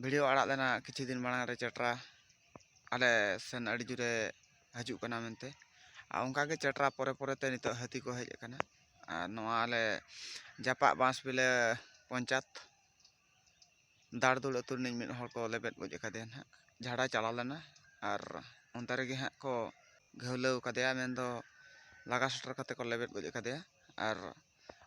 video ᱟᱲᱟᱜ ᱞᱮᱱᱟ ᱠᱤᱪᱷᱩ ᱫᱤᱱ ᱢᱟᱲᱟᱝ ᱨᱮ ᱪᱮᱴᱨᱟ ᱟᱞᱮ ᱥᱮᱱ ᱟᱹᱰᱤ ᱡᱳᱨᱮ ᱦᱤᱡᱩᱜ ᱠᱟᱱᱟ ᱢᱮᱱᱛᱮ ᱟᱨ ᱚᱱᱠᱟ ᱜᱮ ᱪᱮᱴᱨᱟ ᱯᱚᱨᱮ ᱯᱚᱨᱮ ᱛᱮ ᱱᱤᱛᱚᱜ ᱦᱟᱹᱛᱤ ᱠᱚ ᱦᱮᱡ ᱟᱠᱟᱱᱟ ᱟᱨ ᱱᱚᱣᱟ ᱟᱞᱮ ᱡᱟᱯᱟᱜ ᱵᱟᱸᱥᱵᱤᱞᱟᱹ ᱯᱚᱧᱪᱟᱭᱮᱛ ᱫᱟᱲᱫᱩᱲ ᱟᱹᱛᱩ ᱨᱤᱱᱤᱡ ᱢᱤᱫ ᱦᱚᱲ ᱠᱚ ᱞᱮᱵᱮᱫ ᱜᱚᱡ ᱟᱠᱟᱫᱮᱭᱟ ᱱᱟᱦᱟᱜ ᱡᱷᱟᱲᱟᱭ ᱪᱟᱞᱟᱣ ᱞᱮᱱᱟ ᱟᱨ ᱚᱱᱛᱮ ᱨᱮᱜᱮ ᱦᱟᱸᱜ ᱠᱚ ᱜᱷᱟᱹᱣᱞᱟᱹᱣ ᱠᱟᱫᱮᱭᱟ ᱢᱮᱱᱫᱚ ᱞᱟᱜᱟ ᱥᱮᱴᱮᱨ ᱠᱟᱛᱮᱫ ᱠᱚ ᱞᱮᱵᱮᱫ ᱜᱚᱡ ᱟᱠᱟᱫᱮᱭᱟ ᱟᱨ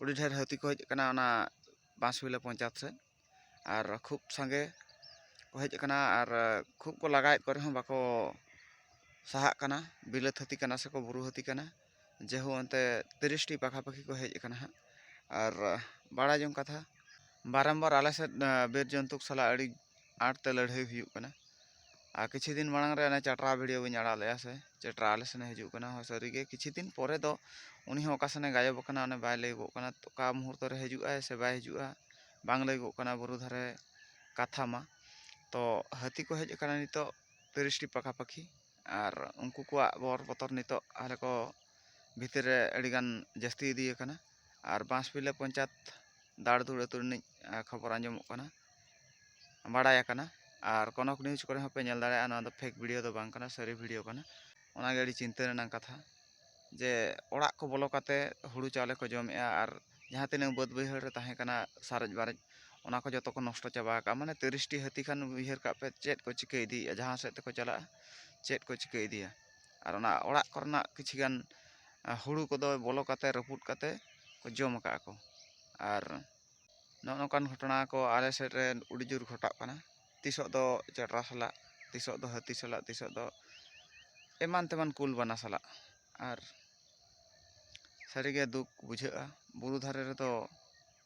ᱟᱹᱰᱤ ᱰᱷᱮᱨ ᱦᱟᱹᱛᱤ ᱠᱚ ᱦᱮᱡ ᱟᱠᱟᱱᱟ ᱚᱱᱟ ᱵᱟᱸᱥᱵᱤᱞᱟᱹ ᱯᱚᱧᱪᱟᱭᱮᱛ ᱥᱮᱫ ᱟᱨ ᱠᱷᱩᱵ ᱥᱟᱸᱜᱮ ᱠᱚ ᱦᱮᱡ ᱟᱠᱟᱱᱟ ᱟᱨ ᱠᱷᱩᱵ ᱠᱚ ᱞᱟᱜᱟᱭᱮᱫ ᱠᱚ ᱨᱮᱦᱚᱸ ᱵᱟᱠᱚ ᱥᱟᱦᱟᱜ ᱠᱟᱱᱟ ᱵᱤᱞᱟᱹᱛ ᱦᱟᱹᱛᱤ ᱠᱟᱱᱟ ᱥᱮᱠᱚ ᱵᱩᱨᱩ ᱦᱟᱹᱛᱤ ᱠᱟᱱᱟ ᱡᱮᱦᱳ ᱚᱱᱛᱮ ᱛᱤᱨᱤᱥᱴᱤ ᱯᱟᱠᱷᱟ ᱯᱟᱠᱷᱤ ᱠᱚ ᱦᱮᱡ ᱟᱠᱟᱱᱟ ᱦᱟᱸᱜ ᱟᱨ ᱵᱟᱲᱟᱭ ᱡᱚᱝ ᱠᱟᱛᱷᱟ ᱵᱟᱨᱚᱢᱵᱟᱨ ᱟᱞᱮ ᱥᱮᱫ ᱵᱤᱨ ᱡᱚᱱᱛᱩ ᱥᱟᱞᱟᱜ ᱟᱹᱰᱤ ᱟᱸᱴ ᱛᱮ ᱞᱟᱹᱲᱦᱟᱹᱭ ᱦᱩᱭᱩᱜ ᱠᱟᱱᱟ ᱟᱨ ᱠᱤᱪᱷᱩ ᱫᱤᱱ ᱢᱟᱲᱟᱝ ᱨᱮ ᱚᱱᱮ ᱪᱟᱴᱨᱟ ᱵᱷᱤᱰᱤᱭᱳ ᱵᱤᱱ ᱟᱲᱟᱜ ᱞᱮᱫᱼᱟ ᱥᱮ ᱪᱟᱴᱨᱟ ᱟᱞᱮ ᱥᱮᱱᱮ ᱦᱤᱡᱩᱜ ᱠᱟᱱᱟ ᱦᱚᱸ ᱥᱟᱹᱨᱤ ᱜᱮ ᱠᱤᱪᱷᱩ ᱫᱤᱱ ᱯᱚᱨᱮ ᱫᱚ ᱩᱱᱤ ᱦᱚᱸ ᱚᱠᱟ ᱥᱮᱱᱮ ᱜᱟᱭᱚᱵ ᱟᱠᱟᱱᱟ ᱚᱱᱮ ᱵᱟᱭ ᱞᱟᱹᱭᱚᱜᱚᱜ ᱠᱟᱱᱟ ᱚᱠᱟ ᱢᱩᱦᱩᱨᱛᱚ ᱨᱮ ᱦᱤᱡᱩᱜ ᱟᱭ ᱥᱮ ᱵᱟᱭ ᱦᱤᱡᱩᱜᱼᱟ ᱵᱟᱝ ᱞᱟᱹᱭᱚᱜᱚᱜ ᱠᱟᱱᱟ ᱵᱩᱨᱩ ᱫᱷᱟᱨᱮ ᱠᱟᱛᱷᱟ ᱢᱟ ᱛᱚ ᱦᱟᱹᱛᱤ ᱠᱚ ᱦᱮᱡ ᱟᱠᱟᱱᱟ ᱱᱤᱛᱚᱜ ᱛᱤᱨᱤᱥᱴᱤ ᱯᱟᱠᱷᱟ ᱯᱟᱹᱠᱷᱤ ᱟᱨ ᱩᱱᱠᱩ ᱠᱚᱣᱟᱜ ᱵᱚᱨ ᱵᱚᱛᱚᱨ ᱱᱤᱛᱚᱜ ᱟᱞᱮ ᱠᱚ ᱵᱷᱤᱛᱤᱨ ᱨᱮ ᱟᱹᱰᱤ ᱜᱟᱱ ᱡᱟᱹᱥᱛᱤ ᱤᱫᱤ ᱟᱠᱟᱱᱟ ᱟᱨ ᱵᱟᱸᱥᱵᱤᱞᱟᱹ ᱯᱚᱧᱪᱟᱭᱮᱛ ᱫᱟᱲᱫᱩᱲ ᱟᱹᱛᱩ ᱨᱤᱱᱤᱡ ᱠᱷᱚᱵᱚᱨ ᱟᱸᱡᱚᱢᱚᱜ ᱠᱟᱱᱟ ᱵᱟᱲᱟᱭ ᱟᱠᱟᱱᱟ ᱟᱨ ᱠᱚᱱᱚᱠ ᱱᱤᱭᱩᱡᱽ ᱠᱚᱨᱮ ᱦᱚᱸᱯᱮ ᱧᱮᱞ ᱫᱟᱲᱮᱭᱟᱜᱼᱟ ᱱᱚᱣᱟ ᱫᱚ ᱯᱷᱮᱠ ᱵᱷᱤᱰᱤᱭᱳ ᱫᱚ ᱵᱟᱝ ᱠᱟᱱᱟ ᱥᱟᱹᱨᱤ ᱵᱷᱤᱰᱤᱭᱳ ᱠᱟᱱᱟ ᱚᱱᱟᱜᱮ ᱟᱹᱰᱤ ᱪᱤᱱᱛᱟᱹ ᱨᱮᱱᱟᱜ ᱠᱟᱛᱷᱟ ᱡᱮ ᱚᱲᱟᱜ ᱠᱚ ᱵᱚᱞᱚ ᱠᱟᱛᱮ ᱦᱩᱲᱩ ᱪᱟᱣᱞᱮ ᱠᱚ ᱡᱚᱢᱮᱜᱼᱟ ᱟᱨ ᱡᱟᱦᱟᱸ ᱛᱤᱱᱟᱹᱜ ᱵᱟᱹᱫᱽ ᱵᱟᱹᱭᱦᱟᱹᱲ ᱨᱮ ᱛᱟᱦᱮᱸ ᱠᱟᱱᱟ ᱥᱟᱨᱮᱡ ᱵᱟᱨᱮᱡ ᱚᱱᱟ ᱠᱚ ᱡᱚᱛᱚ ᱠᱚ ᱱᱚᱥᱴᱚ ᱪᱟᱵᱟ ᱟᱠᱟᱫᱼᱟ ᱢᱟᱱᱮ ᱛᱤᱨᱤᱥᱴᱤ ᱦᱟᱹᱛᱤ ᱠᱷᱟᱱ ᱩᱭᱦᱟᱹᱨ ᱠᱟᱜ ᱯᱮ ᱪᱮᱫ ᱠᱚ ᱪᱤᱠᱟᱹ ᱤᱫᱤᱭᱮᱫᱼᱟ ᱡᱟᱦᱟᱸ ᱥᱮᱫ ᱛᱮᱠᱚ ᱪᱟᱞᱟᱜᱼᱟ ᱪᱮᱫ ᱠᱚ ᱪᱤᱠᱟᱹ ᱤᱫᱤᱭᱟ ᱟᱨ ᱚᱱᱟ ᱚᱲᱟᱜ ᱠᱚᱨᱮᱱᱟᱜ ᱠᱤᱪᱷᱩ ᱜᱟᱱ ᱦᱩᱲᱩ ᱠᱚᱫᱚ ᱵᱚᱞᱚ ᱠᱟᱛᱮ ᱨᱟᱹᱯᱩᱫ ᱠᱟᱛᱮ ᱠᱚ ᱡᱚᱢ ᱟᱠᱟᱫᱼᱟ ᱠᱚ ᱟᱨ ᱱᱚᱜᱼᱚ ᱱᱚᱝᱠᱟᱱ ᱜᱷᱚᱴᱚᱱᱟ ᱠᱚ ᱟᱞᱮ ᱥᱮᱫ ᱨᱮ ᱟᱹᱰᱤ ᱡᱳᱨ ᱜᱷᱚᱴᱟᱜ ᱠᱟᱱᱟ ᱛᱤᱥᱚᱜ ᱫᱚ ᱪᱮᱴᱨᱟ ᱥᱟᱞᱟᱜ ᱛᱤᱥᱚᱜ ᱫᱚ ᱦᱟᱹᱛᱤ ᱥᱟᱞᱟᱜ ᱛᱤᱥᱚᱜ ᱫᱚ ᱮᱢᱟᱱ ᱛᱮᱢᱟᱱ ᱠᱩᱞ ᱵᱟᱱᱟ ᱥᱟᱞᱟᱜ ᱟᱨ ᱥᱟᱹᱨᱤᱜᱮ ᱫᱩᱠ ᱵᱩᱡᱷᱟᱹᱜᱼᱟ ᱵᱩᱨᱩ ᱫᱷᱟᱨᱮ ᱨᱮᱫᱚ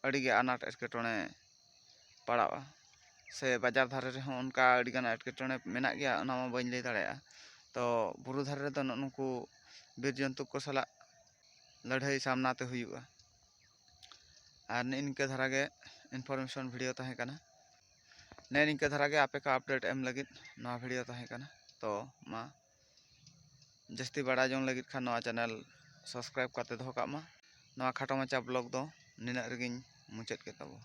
ᱟᱹᱰᱤᱜᱮ ᱟᱱᱟᱴ ᱮᱴᱠᱮᱴᱚᱬᱮ ᱯᱟᱲᱟᱜᱼᱟ ᱥᱮ ᱵᱟᱡᱟᱨ ᱫᱷᱟᱨᱮ ᱨᱮᱦᱚᱸ ᱚᱱᱠᱟ ᱟᱹᱰᱤᱜᱟᱱ ᱮᱴᱠᱮᱴᱚᱬᱮ ᱢᱮᱱᱟᱜ ᱜᱮᱭᱟ ᱚᱱᱟ ᱢᱟ ᱵᱟᱹᱧ ᱞᱟᱹᱭ ᱫᱟᱲᱮᱭᱟᱜᱼᱟ ᱛᱚ ᱵᱩᱨᱩ ᱫᱷᱟᱨᱮ ᱨᱮᱫᱚ ᱱᱩᱜᱼᱩ ᱱᱩᱠᱩ ᱵᱤᱨ ᱡᱚᱱᱛᱩ ᱠᱚ ᱥᱟᱞᱟᱜ ᱞᱟᱹᱲᱦᱟᱹᱭ ᱥᱟᱢᱱᱟ ᱛᱮ ᱦᱩᱭᱩᱜᱼᱟ ᱟᱨ ᱱᱮᱜᱼᱮ ᱱᱤᱝᱠᱟᱹ ᱫᱷᱟᱨᱟ ᱜᱮ ᱤᱱᱯᱷᱚᱨᱢᱮᱥᱚᱱ ᱵᱷᱤᱰᱤᱭᱳ ᱛᱟᱦᱮᱸ ᱠᱟᱱᱟ ᱱᱮᱜᱼᱮ ᱱᱤᱝᱠᱟᱹ ᱫᱷᱟᱨᱟ ᱜᱮ ᱟᱯᱮ ᱠᱚ ᱟᱯᱰᱮᱴ ᱮᱢ ᱞᱟᱹᱜᱤᱫ ᱱᱚᱣᱟ ᱵᱷᱤᱰᱤᱭᱳ ᱛᱟᱦᱮᱸ ᱠᱟᱱᱟ ᱛᱚ ᱢᱟ ᱡᱟᱹᱥᱛᱤ ᱵᱟᱲᱟᱭ ᱡᱚᱝ ᱞᱟᱹᱜᱤᱫ ᱠᱷᱟᱱ ᱱᱚᱣᱟ ᱪᱮᱱᱮᱞ ᱥᱟᱵᱥᱠᱨᱟᱭᱤᱵ ᱠᱟᱛᱮ ᱫᱚᱦᱚ ᱠᱟᱜ ᱢᱟ ᱱᱚᱣᱟ ᱠᱷᱟᱴᱚ ᱢᱟᱪᱷᱟ ᱵᱞᱚᱜ ᱫᱚ ᱱᱤᱱᱟᱹᱜ ᱨᱮᱜᱮᱧ ᱢᱩᱪᱟᱹᱫ ᱠᱮᱫ ᱛᱟᱵᱚᱱᱟ